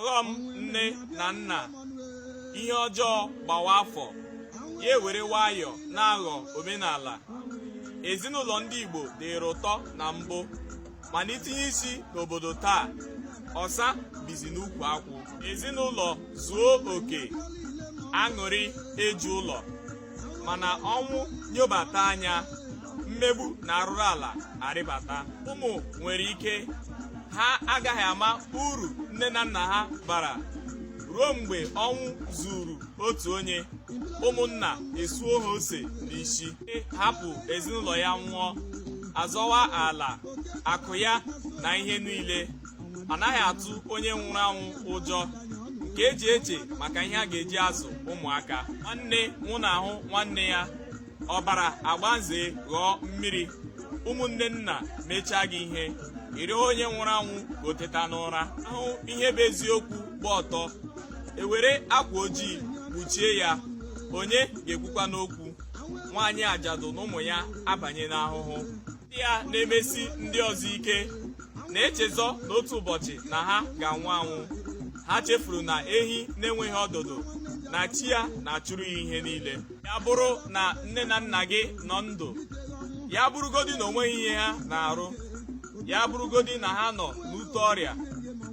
ọghọm nne na nna ihe ọjọọ gbawa afọ ya ewere nwayọ na-aghọ omenala ezinụlọ ndị Igbo dịrị ụtọ na mbụ mana i tinye isi n'obodo taa ọsa bizi n'ukwu akwụ ezinụlọ zuo oke aṅụrị eju ụlọ mana ọnwụ nyobata anya mmegbu na arụrụ ala arịbata ụmụ nwere ike ha agaghị ama uru nne na nna ha bara ruo mgbe ọnwụ zuuru otu onye ụmụnna esuo ha ose n'isi hapụ ezinụlọ ya nwụọ azọwa ala akụ ya na ihe niile anaghị atụ onye nwụrụ anwụ ụjọ nke e ji eche maka ihe a ga-eji azụ ụmụaka nwanne nwụnahụ nwanne ya ọbara agbaze ghọọ mmiri ụmụnne nna mechaa gị ihe ị rịọ onye nwụrụ anwụ ka o teta n'ụra a hụ ihe bụ eziokwu gba ọtọ e were akwa ojii kpuchie ya onye ga-ekwukwanụ okwu nwaanyị ajadu na ụmụ ya abanye n'ahụhụ ndị a na-emesi ndị ọzọ ike na-echezọ na otu ụbọchị na ha ga-anwụ anwụ ha chefuru na ehi na-enweghị ọdụdụ na chi ya na-achụrụ ya ihe niile ya bụrụ na nne na nna gị nọ ndụ ya bụrụgodi na o nweghị ihe ha na-arụ ya bụrụgodi na ha nọ n'ute ọrịa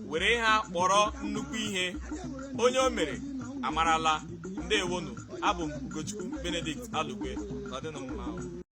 were ha kpọrọ nnukwu ihe onye o mere amarala ndewonụ abụ m Ugochukwu Benedict Alugwe